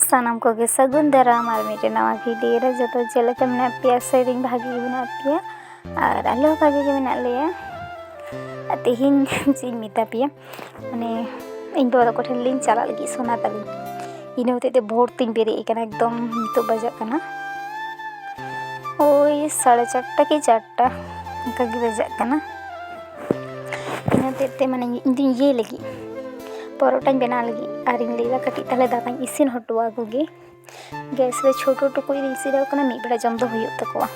ᱥᱟᱱᱟᱢ ᱠᱚᱜᱮ ᱥᱟᱹᱜᱩᱱ ᱫᱟᱨᱟᱢ ᱟᱨ ᱢᱤᱫᱴᱮᱱ ᱱᱟᱣᱟ ᱵᱷᱤᱰᱤᱭᱳ ᱨᱮ ᱡᱚᱛᱚ ᱪᱮᱫ ᱞᱮᱠᱟ ᱢᱮᱱᱟᱜ ᱯᱮᱭᱟ ᱥᱮᱨᱮᱧ ᱵᱷᱟᱜᱮ ᱜᱮ ᱢᱮᱱᱟᱜ ᱯᱮᱭᱟ ᱟᱨ ᱟᱞᱮ ᱦᱚᱸ ᱵᱷᱟᱜᱮ ᱜᱮ ᱢᱮᱱᱟᱜ ᱞᱮᱭᱟ ᱟᱨ ᱛᱮᱦᱮᱧ ᱪᱮᱫ ᱤᱧ ᱢᱮᱛᱟ ᱯᱮᱭᱟ ᱢᱟᱱᱮ ᱤᱧ ᱵᱟᱵᱟ ᱛᱟᱠᱚ ᱴᱷᱮᱱ ᱞᱤᱧ ᱪᱟᱞᱟᱜ ᱞᱟᱹᱜᱤᱫ ᱥᱚᱱᱟ ᱛᱟᱹᱞᱤᱧ ᱤᱱᱟᱹ ᱦᱚᱛᱮᱡ ᱛᱮ ᱵᱷᱳᱨ ᱛᱤᱧ ᱵᱮᱨᱮᱫ ᱟᱠᱟᱱᱟ ᱮᱠᱫᱚᱢ ᱱᱤᱛᱚᱜ ᱵᱟᱡᱟᱜ ᱠᱟᱱᱟ ᱳᱭ ᱥᱟᱲᱮ ᱪᱟᱨᱴᱟ ᱠᱤ ᱪᱟᱨᱴᱟ ᱚᱱᱠᱟᱜᱮ ᱵᱟᱡᱟᱜ ᱠᱟᱱᱟ ᱤᱱᱟᱹ ᱦᱚᱛᱮᱡ ᱛᱮ ᱢᱟᱱᱮ ᱤᱧ ᱫᱚᱧ ᱤᱭᱟᱹᱭ ᱞᱟᱹᱜᱤᱫ ᱯᱚᱨᱚᱴᱟᱧ ᱵᱮᱱᱟᱣ ᱞᱟᱹᱜᱤᱫ ᱟᱨᱤᱧ ᱞᱟᱹᱭᱫᱟ ᱠᱟᱹᱴᱤᱡ ᱛᱟᱦᱚᱞᱮ ᱫᱟᱠᱟᱧ ᱤᱥᱤᱱ ᱦᱚᱴᱚ ᱟᱠᱚ ᱜᱮ ᱜᱮᱥ ᱨᱮ ᱪᱷᱳᱴᱳ ᱴᱩᱠᱩᱡ ᱨᱤᱧ ᱤᱥᱤᱱ ᱟᱠᱚ ᱠᱟᱱᱟ ᱢᱤᱫ ᱵᱮᱲᱟ ᱡᱚᱢ ᱫᱚ ᱦᱩᱭᱩᱜ ᱛᱟᱠᱚᱣᱟ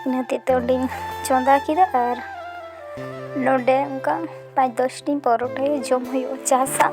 ᱤᱱᱟᱹ ᱦᱚᱛᱮᱡ ᱛᱮ ᱚᱸᱰᱮᱧ ᱪᱚᱸᱫᱟ ᱠᱮᱫᱟ ᱟᱨ ᱱᱚᱰᱮ ᱚᱱᱠᱟ ᱯᱟᱸᱪ ᱫᱚᱥᱴᱤ ᱯᱚᱨᱚᱴᱟ ᱡᱚᱢ ᱦᱩᱭᱩᱜᱼᱟ ᱪᱟ ᱥᱟᱶ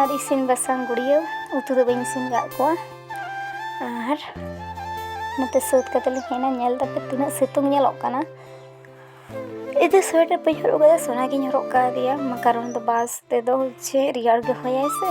ᱟᱨ ᱤᱥᱤᱱ ᱵᱟᱥᱟᱝ ᱜᱩᱲᱤᱭᱟᱹ ᱩᱛᱩ ᱫᱚ ᱵᱟᱹᱧ ᱤᱥᱤᱱ ᱠᱟᱜ ᱠᱚᱣᱟ ᱟᱨ ᱱᱚᱛᱮ ᱥᱟᱹᱛ ᱠᱟᱛᱮ ᱞᱤᱧ ᱦᱮᱡ ᱮᱱᱟ ᱧᱮᱞ ᱫᱟᱯᱮ ᱛᱤᱱᱟᱹᱜ ᱥᱤᱛᱩᱝ ᱧᱮᱞᱚᱜ ᱠᱟᱱᱟ ᱤᱫᱤ ᱥᱳᱭᱮᱴᱟᱨ ᱵᱟᱹᱧ ᱦᱚᱨᱚᱜ ᱠᱟᱫᱟ ᱥᱚᱱᱟᱜᱤᱧ ᱦᱚᱨᱚᱜ ᱠᱟᱣᱫᱮᱭᱟ ᱠᱟᱨᱚᱱ ᱫᱚ ᱵᱟᱥ ᱛᱮᱫᱚ ᱪᱮᱫ ᱨᱮᱭᱟᱲ ᱜᱮ ᱦᱚᱭᱟᱭ ᱥᱮ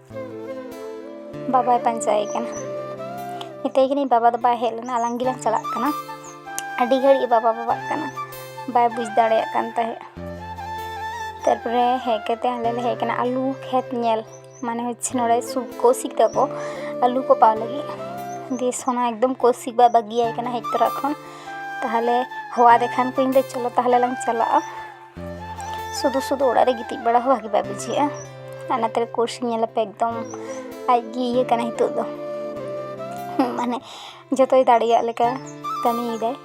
ᱵᱟᱵᱟᱭ ᱯᱟᱸᱡᱟᱭᱮ ᱠᱟᱱᱟ ᱢᱮᱛᱟᱭ ᱠᱟᱹᱱᱟᱹᱧ ᱵᱟᱵᱟ ᱫᱚ ᱵᱟᱭ ᱦᱮᱡ ᱞᱮᱱᱟ ᱟᱞᱟᱝ ᱜᱮᱞᱟᱝ ᱪᱟᱞᱟᱜ ᱠᱟᱱᱟ ᱟᱹᱰᱤ ᱜᱷᱟᱹᱲᱤᱡ ᱵᱟᱵᱟ ᱵᱟᱵᱟᱜ ᱠᱟᱱᱟ ᱵᱟᱭ ᱵᱩᱡᱽ ᱫᱟᱲᱮᱭᱟᱜ ᱠᱟᱱ ᱛᱟᱦᱮᱸᱫ ᱛᱟᱨᱯᱚᱨᱮ ᱦᱮᱡ ᱠᱟᱛᱮ ᱟᱞᱮ ᱞᱮ ᱦᱮᱡ ᱠᱟᱱᱟ ᱟᱞᱩ ᱠᱷᱮᱛ ᱧᱮᱞ ᱢᱟᱱᱮ ᱦᱚᱪᱪᱷᱮ ᱱᱚᱰᱮ ᱥᱩᱵ ᱠᱚᱥᱤᱠ ᱛᱟᱠᱚ ᱟᱞᱩ ᱠᱚ ᱯᱟᱣ ᱞᱟᱹᱜᱤᱫ ᱫᱤᱭᱮ ᱥᱚᱱᱟ ᱮᱠᱫᱚᱢ ᱠᱚᱥᱤᱠ ᱵᱟᱭ ᱵᱟᱹᱜᱤᱭᱟᱭ ᱠᱟᱱᱟ ᱦᱮᱡ ᱛᱚᱨᱟ ᱠᱷᱚᱱ ᱛᱟᱦᱚᱞᱮ ᱦᱚᱦᱚᱣᱟᱫᱮ ᱠᱷᱟᱱ ᱠᱚ ᱤᱧ ᱫᱚ ᱪᱚᱞᱚ ᱛᱟᱦᱚᱞᱮ ᱞᱟᱝ ᱪᱟᱞᱟᱜᱼᱟ ᱥᱩᱫᱷᱩ ᱥᱩᱫᱷᱩ ᱚᱲᱟᱜ ᱨᱮ ᱜᱤᱛᱤᱡ ᱵᱟᱲᱟ ᱦᱚᱸ ᱵᱷᱟᱜᱮ ᱵᱟᱭ ᱵᱩᱡᱷᱟᱹᱜᱼᱟ ᱟᱨ ᱱᱟᱛᱮ ᱨᱮ ᱠᱳᱨᱥ ᱧᱮᱞ ᱟᱯᱮ ᱮᱠᱫᱚᱢ ᱟᱡ ᱜᱮ ᱤᱭᱟᱹ ᱠᱟᱱᱟ ᱱᱤᱛᱚᱜ ᱫᱚ ᱢᱟᱱᱮ ᱡᱚᱛᱚᱭ ᱫᱟᱲᱮᱭᱟᱜ ᱞᱮᱠᱟ ᱠᱟᱹᱢᱤᱭᱮᱫᱟᱭ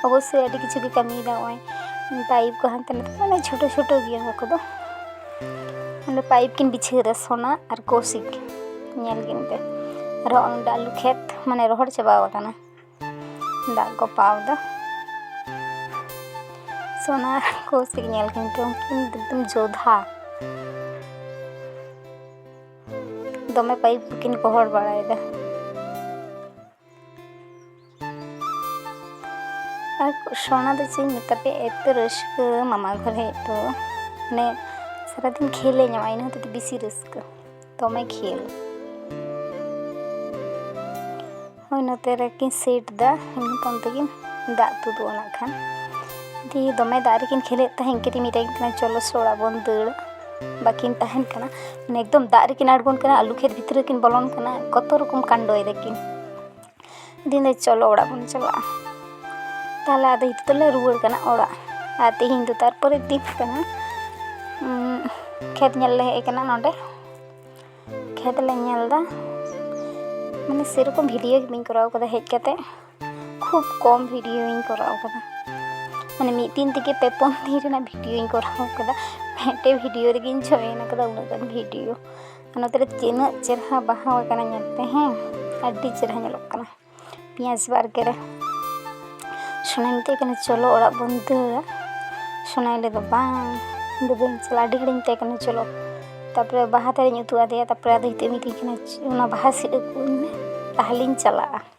ᱚᱵᱚᱥᱥᱳᱭ ᱟᱹᱰᱤ ᱠᱤᱪᱷᱩ ᱜᱮ ᱠᱟᱹᱢᱤᱭᱮᱫᱟ ᱱᱚᱜᱼᱚᱭ ᱯᱟᱭᱤᱯ ᱠᱚ ᱦᱟᱱᱛᱮ ᱱᱟᱛᱮ ᱢᱟᱱᱮ ᱪᱷᱳᱴᱳ ᱪᱷᱳᱴᱳ ᱜᱮᱭᱟ ᱚᱱᱟ ᱠᱚᱫᱚ ᱚᱸᱰᱮ ᱯᱟᱭᱤᱯ ᱠᱤᱱ ᱵᱤᱪᱷᱟᱹᱣᱫᱟ ᱥᱚᱱᱟ ᱟᱨ ᱠᱳᱥᱤᱠ ᱧᱮᱞ ᱠᱤᱱ ᱯᱮ ᱟᱨᱦᱚᱸ ᱚᱸᱰᱮ ᱟᱹᱞᱩ ᱠᱷᱮᱛ ᱢᱟᱱᱮ ᱨᱚᱦᱚᱲ ᱪᱟᱵᱟᱣ ᱠᱟᱱᱟ ᱫᱟᱜ ᱠᱚ ᱯᱟᱣᱫᱟ ᱥᱚᱱᱟ ᱠᱚᱥᱤᱠ ᱧᱮᱞ ᱠᱤᱱ ᱛᱚ ᱩᱱᱠᱤᱱ ᱮᱠᱫᱚᱢ ᱡᱳᱫᱷᱟ ᱫᱚᱢᱮ ᱯᱟᱭᱤᱯ ᱠᱤᱱ ᱜᱚᱦᱚᱲ ᱵᱟᱲᱟᱭᱮᱫᱟ ᱟᱨ ᱥᱚᱱᱟ ᱫᱚ ᱪᱮᱫ ᱤᱧ ᱢᱮᱛᱟ ᱯᱮᱭᱟ ᱮᱛᱚ ᱨᱟᱹᱥᱠᱟᱹ ᱢᱟᱢᱟ ᱜᱷᱚᱨ ᱦᱮᱡ ᱫᱚ ᱢᱟᱱᱮ ᱥᱟᱨᱟᱫᱤᱱ ᱠᱷᱮᱞᱮ ᱧᱟᱢᱟ ᱤᱱᱟᱹ ᱦᱚᱛᱮᱡ ᱛᱮ ᱵᱮᱥᱤ ᱨᱟᱹᱥᱠᱟᱹ ᱫᱚᱢᱮ ᱠᱷᱮᱞ ᱦᱳᱭ ᱱᱚᱛᱮ ᱨᱮᱠᱤᱱ ᱥᱮᱴ ᱫᱟ ᱱᱤᱛᱚᱝ ᱛᱮᱜᱮ ᱫᱟᱜ ᱛᱩᱫᱩᱜᱼᱟ ᱱᱟᱜ ᱠᱷᱟᱱ ᱫᱤᱭᱮ ᱫᱚᱢᱮ ᱫᱟᱜ ᱨᱮᱠᱤᱱ ᱠᱷᱮᱞᱮᱫ ᱛᱟᱦᱮᱸ ᱤᱱᱠᱟᱹ ᱛᱮ ᱢᱮᱛᱟᱭ ᱠᱟᱱᱟ ᱪᱚᱞᱚ ᱥᱮ ᱚᱲᱟᱜ ᱵᱚᱱ ᱫᱟᱹᱲᱟ ᱵᱟᱹᱠᱤᱱ ᱛᱟᱦᱮᱱ ᱠᱟᱱᱟ ᱢᱟᱱᱮ ᱮᱠᱫᱚᱢ ᱫᱟᱜ ᱨᱮᱠᱤᱱ ᱟᱬᱜᱚᱱ ᱠᱟᱱᱟ ᱟᱹᱞᱩ ᱠᱷᱮᱛ ᱵᱷᱤᱛᱨᱤ ᱨᱮᱠᱤᱱ ᱵᱚᱞᱚᱱ ᱠᱟᱱᱟ ᱠᱚᱛᱚ ᱨᱚᱠᱚᱢ ᱠᱟᱱᱰᱚᱭ ᱫᱟᱹᱠᱤᱱ ᱫᱤᱱᱮ ᱪᱚᱞᱚ ᱚᱲᱟᱜ ᱵᱚᱱ ᱪᱟᱞᱟᱜᱼᱟ ᱛᱟᱦᱚᱞᱮ ᱟᱫᱚ ᱱᱤᱛᱚᱜ ᱫᱚᱞᱮ ᱨᱩᱣᱟᱹᱲ ᱠᱟᱱᱟ ᱚᱲᱟᱜ ᱟᱨ ᱛᱮᱦᱮᱧ ᱫᱚ ᱛᱟᱨᱯᱚᱨᱮ ᱫᱤᱱ ᱠᱟᱱᱟ ᱠᱷᱮᱛ ᱧᱮᱞ ᱞᱮ ᱦᱮᱡ ᱠᱟᱱᱟ ᱱᱚᱰᱮ ᱠᱷᱮᱛ ᱞᱮ ᱧᱮᱞ ᱮᱫᱟ ᱢᱟᱱᱮ ᱥᱮᱨᱚᱠᱚᱢ ᱵᱷᱤᱰᱭᱳ ᱜᱮ ᱵᱟᱹᱧ ᱠᱚᱨᱟᱣ ᱠᱟᱫᱟ ᱦᱮᱡ ᱠᱟᱛᱮ ᱠᱷᱩᱵ ᱠᱚᱢ ᱵᱷᱤᱰᱭᱳᱧ ᱠᱚᱨᱟᱣ ᱠᱟᱫᱟ ᱢᱟᱱᱮ ᱢᱤᱫ ᱫᱤᱱ ᱛᱮᱜᱮ ᱯᱮ ᱯᱩᱱ ᱫᱤᱱ ᱨᱮᱱᱟᱜ ᱵᱷᱤᱰᱭᱳᱧ ᱠᱚᱨᱟᱣ ᱠᱟᱫᱟ ᱢᱤᱫᱴᱮᱡ ᱵᱷᱤᱰᱭᱳ ᱨᱮᱜᱮᱧ ᱡᱚᱭᱮᱱ ᱠᱟᱫᱟ ᱩᱱᱟᱹᱜ ᱜᱟᱱ ᱵᱷᱤᱰᱭᱳ ᱱᱚᱛᱮ ᱨᱮ ᱛᱤᱱᱟᱹᱜ ᱪᱮᱨᱦᱟ ᱵᱟᱦᱟ ᱟᱠᱟᱱᱟ ᱧᱮᱞ ᱯᱮ ᱦᱮᱸ ᱟᱹᱰᱤ ᱪᱮᱨᱦᱟ ᱧᱮᱞᱚᱜ ᱠᱟᱱᱟ ᱯᱮᱸᱭᱟᱡᱽ ᱵᱟᱲᱜᱮ ᱨᱮ ᱥᱚᱱᱟᱭ ᱢᱮᱛᱟᱭ ᱠᱟᱱᱟ ᱪᱚᱞᱚ ᱚᱲᱟᱜ ᱵᱚᱱ ᱫᱟᱹᱲᱟ ᱥᱚᱱᱟᱭ ᱞᱟᱹᱭᱫᱟ ᱵᱟᱝ ᱤᱧ ᱫᱚ ᱵᱟᱹᱧ ᱪᱟᱞᱟᱜᱼᱟ ᱟᱹᱰᱤ ᱜᱷᱟᱹᱲᱤᱡ ᱢᱮᱛᱟᱭ ᱠᱟᱱᱟ ᱪᱚᱞᱚ ᱛᱟᱨᱯᱚᱨᱮ ᱵᱟᱦᱟ ᱫᱟᱨᱮᱧ ᱩᱫᱩᱜ ᱟᱫᱮᱭᱟ ᱛᱟᱨᱯᱚᱨᱮ ᱟᱫᱚ ᱱᱤᱛᱚᱜ ᱢᱤᱛᱟᱹᱧ ᱠᱟᱱᱟᱭ ᱚᱱᱟ ᱵᱟᱦᱟ ᱥᱤᱫ ᱟᱹᱜᱩ ᱟᱹᱧ ᱢᱮ ᱛᱟᱦᱚᱞᱮᱧ ᱪᱟᱞᱟᱜᱼᱟ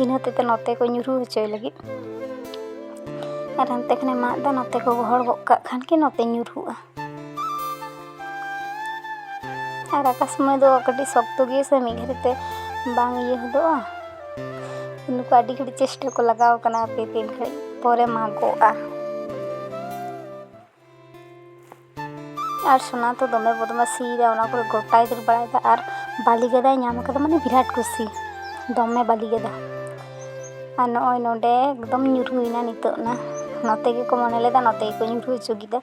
ᱤᱱᱟᱹ ᱦᱚᱛᱮᱡ ᱛᱮ ᱱᱚᱛᱮ ᱠᱚ ᱧᱩᱨᱩ ᱦᱚᱪᱚᱭ ᱞᱟᱹᱜᱤᱫ ᱟᱨ ᱦᱟᱱᱛᱮ ᱠᱷᱚᱱᱮ ᱢᱟᱜ ᱮᱫᱟ ᱱᱚᱛᱮ ᱠᱚ ᱜᱚᱦᱚᱲ ᱜᱚᱫ ᱠᱟᱜ ᱠᱷᱟᱱ ᱜᱮ ᱱᱚᱛᱮ ᱧᱩᱨᱦᱩᱜᱼᱟ ᱟᱨ ᱟᱠᱟ ᱥᱚᱢᱚᱭ ᱫᱚ ᱠᱟᱹᱴᱤᱡ ᱥᱚᱠᱛᱚ ᱜᱮᱭᱟ ᱥᱮ ᱢᱤᱫ ᱜᱷᱟᱹᱲᱤᱡ ᱛᱮ ᱵᱟᱝ ᱤᱭᱟᱹ ᱦᱚᱫᱚᱜᱼᱟ ᱱᱩᱠᱩ ᱟᱹᱰᱤ ᱜᱷᱟᱹᱲᱤᱡ ᱪᱮᱥᱴᱟ ᱠᱚ ᱞᱟᱜᱟᱣ ᱠᱟᱱᱟ ᱦᱟᱯᱮ ᱛᱤᱱ ᱜᱷᱟᱹᱲᱤᱡ ᱯᱚᱨᱮ ᱢᱟᱜᱚᱜᱼᱟ ᱟᱨ ᱥᱳᱱᱟ ᱫᱚ ᱫᱚᱢᱮ ᱵᱚᱫᱢᱟᱥᱤᱭᱮᱫᱟ ᱚᱱᱟ ᱠᱚᱨᱮ ᱜᱚᱴᱟᱭ ᱫᱟᱹᱲ ᱵᱟᱲᱟᱭᱮᱫᱟ ᱟᱨ ᱵᱟᱹᱞᱤ ᱜᱮᱫᱟᱭ ᱧᱟᱢ ᱠᱟᱫᱟ ᱢᱟᱱᱮ ᱵᱤᱨᱟᱴ ᱠᱩᱥᱤ ᱫᱚᱢᱮ ᱵᱟᱹᱞᱤ ᱜᱮᱫᱟ ᱟᱨ ᱱᱚᱜᱼᱚᱭ ᱱᱚᱰᱮ ᱮᱠᱫᱚᱢ ᱧᱩᱨᱦᱩᱭᱮᱱᱟ ᱱᱤᱛᱚᱜ ᱱᱟ ᱱᱚᱛᱮ ᱜᱮᱠᱚ ᱢᱚᱱᱮ ᱞᱮᱫᱟ ᱱᱚᱛᱮ ᱜᱮᱠᱚ ᱧᱩᱨᱦᱩ ᱦᱚᱪᱚ ᱠᱮᱫᱟ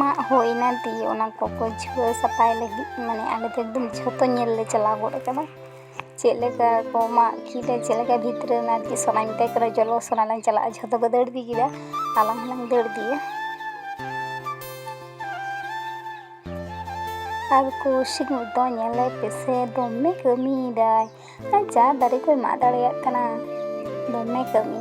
ᱢᱟᱜ ᱦᱩᱭᱱᱟ ᱫᱤᱭᱮ ᱚᱱᱟ ᱠᱚᱠᱚ ᱡᱷᱩᱲᱟᱹᱣ ᱥᱟᱯᱷᱟᱭ ᱞᱟᱹᱜᱤᱫ ᱢᱟᱱᱮ ᱟᱞᱮ ᱫᱚ ᱮᱠᱫᱚᱢ ᱡᱷᱚᱛᱚ ᱧᱮᱞ ᱞᱮ ᱪᱟᱞᱟᱣ ᱜᱚᱫ ᱠᱟᱱᱟ ᱪᱮᱫ ᱞᱮᱠᱟ ᱠᱚ ᱢᱟᱜ ᱠᱮᱫᱟ ᱪᱮᱫ ᱞᱮᱠᱟ ᱵᱷᱤᱛᱨᱤ ᱨᱮ ᱟᱨᱠᱤ ᱥᱚᱱᱟᱧ ᱢᱮᱛᱟᱭ ᱠᱟᱱᱟ ᱪᱚᱞᱚ ᱥᱚᱱᱟ ᱞᱟᱝ ᱪᱟᱞᱟᱜᱼᱟ ᱡᱷᱚᱛᱚ ᱠᱚ ᱫᱟᱹᱲ ᱤᱫᱤ ᱠᱮᱫᱟ ᱟᱞᱟᱝ ᱦᱚᱸᱞᱟᱝ ᱫᱟᱹᱲ ᱤᱫᱤᱭᱟ ᱟᱨ ᱠᱚᱣᱥᱤᱠ ᱫᱚ ᱧᱮᱞᱮ ᱯᱮᱥᱮ ᱫᱚᱢᱮ ᱠᱟᱹᱢᱤᱭᱮᱫᱟᱭ ᱟᱨ ᱡᱟ ᱫᱟᱨᱮ ᱠᱚᱭ ᱢᱟᱜ ᱫᱟᱲᱮᱭᱟᱜ ᱠᱟᱱᱟ ᱫᱚᱢᱮ ᱠᱟᱹᱢᱤ